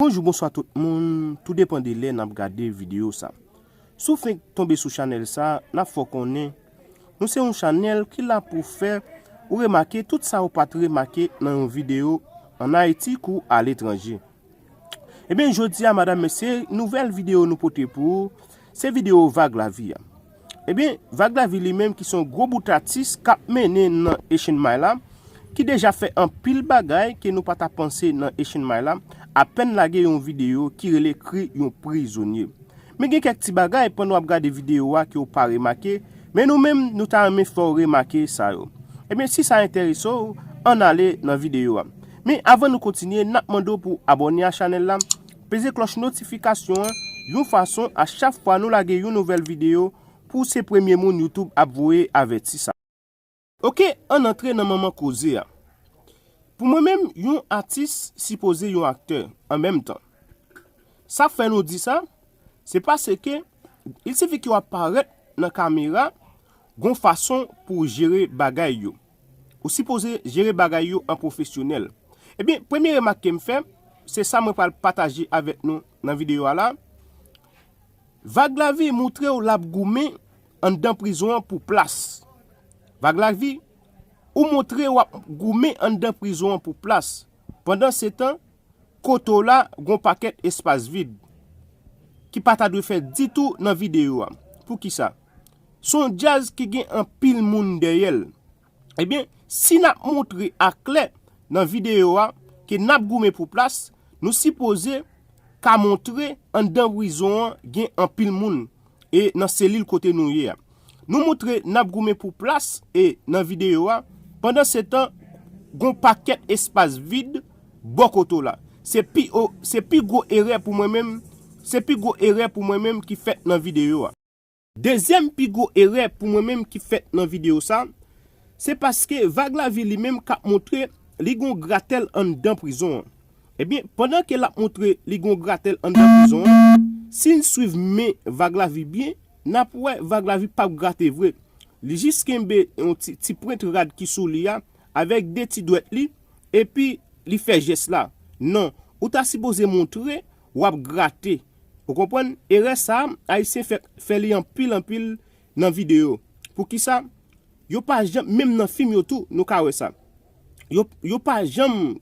Bonjou bonswa tout moun, tou depan de lè nap gade video sa. Sou fenk tonbe sou chanel sa, nap fò konnen, nou se yon chanel ki la pou fè ou remake tout sa ou pat remake nan yon video an Haiti kou a letranje. Ebyen jodi a madam mesye nouvèl video nou pote pou ou se video vag lavi a. Ebyen vag lavi li menm ki son gwo bout atis kap mennen nan echenmay la ki deja fè anpil bagay ke nou pata panse nan echenmay la apèn lage yon video ki rele kri yon prizonye. Men gen kèk ti bagay pandan wap gade videyo a ke w pa remake, men nou menm nou ta renmen fè w remake sa yo. Ebyen si sa enterese w, ann ale nan videyo a. Men avan nou kontinye, nap mande w pou w abòne a chanèl la, peze klòch notifikasyon an, yon fason a chak fwa nou lage yon nouvèl videyo, pou w se premye moun YouTube ap voye avèti sa. Ok ann antre nan manman koze a. Pou mwen menm yon atis sipoze yon aktè an menm tan. Sa fè nou di sa, se paske il sifi ke w ap parèt nan kamera gon fason pou w jere bagay yo. Ou sipoze jere bagay yo an pwofesyonèl. Ebyen premye remak ke m fè, se sa mwen pral pataje avèk nou nan videyo a la. Vaglavi moutre w l ap goumen Anndan prizon an pou plas. Vag Lavi, Ou montre w ap goumen anndan prizon an pou plas. Pandansetan, kote w la, gen yon pakèt espas vid, ki pa ta dwe fèt ditou nan videyo a. Poukisa? Se yon djaz ki gen anpil moun dèyè l. Ebyen, si n ap montre aklè nan videyo a ke n ap goumen pou plas, nou sipoze ka montre anndan prizon an gen anpil moun e nan selil kote nou ye a. Nou montre n ap goumen pou plas e nan videyo a, pandansetan gon pakèt espas vid bò kote w la. Se pi o, se pi gwo erè pou mwen menm, se pi gwo erè pou mwen menm ki fèt nan videyo a. Dezyèm pi gwo erè pou mwen menm ki fèt nan videyo sa, se paske Vag Lavi li menm kap montre li gon gratèl anndan prizon an. Ebyen pandan ke lap montre li gon gratèl anndan prizon an, si n swiv men Vag Lavi byen, nap wè Vag Lavi pap grate vre. Li jis kenbe yon ti ti prent rad ki sou li a avèk de ti dwèt li epi li fè jès la. Non, ou ta sipoze montre wap grate ou konprann erè sa ayisyen fè fè li anpil anpil nan video poukisa yo pa janm menm nan fim yo tou nou ka wè sa yo yo pa janm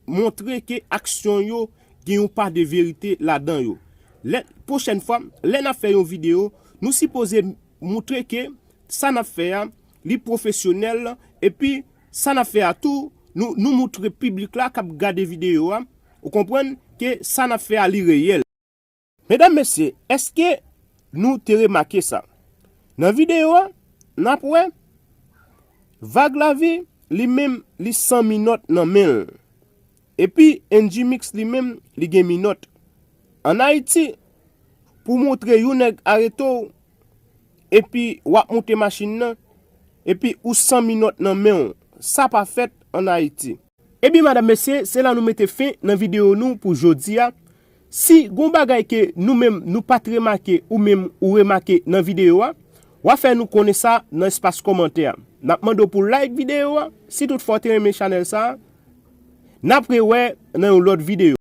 montre ke aksyon yo gen yon pa de verite ladan yo lè pwochèn fwa lè nap fè yon video nou sipoze moutre ke sa nap fè a li pwofesyonèl epi Sa nap fè a tou, nou nou moutre piblik la kap gade video a, ou konprann, ke sa nap fè a li reyèl. Medam mesye, eske nou te remake sa? Nan video a, nap wè, Vag lavi, li menm, li san minòt nan menl. Epi N-G-Mix li menm li gen minòt. An Ayiti, pou w montre yon nèg arete w, epi w ap monte machin nan, epi ou san minòt nan men w, sa pa fèt an Ayiti. Ebyen madam mesye, se la nou mete fen nan videyo nou pou jodi a. Si gon bagay ke nou menm nou pat remake ou menm ou remake nan videyo a, wa fè nou konnen sa nan espas kòmantè a. Nap mande w pou like videyo a, si tout fwa w te renmen chanèl sa a. Nap re wè nan yon lòt videyo.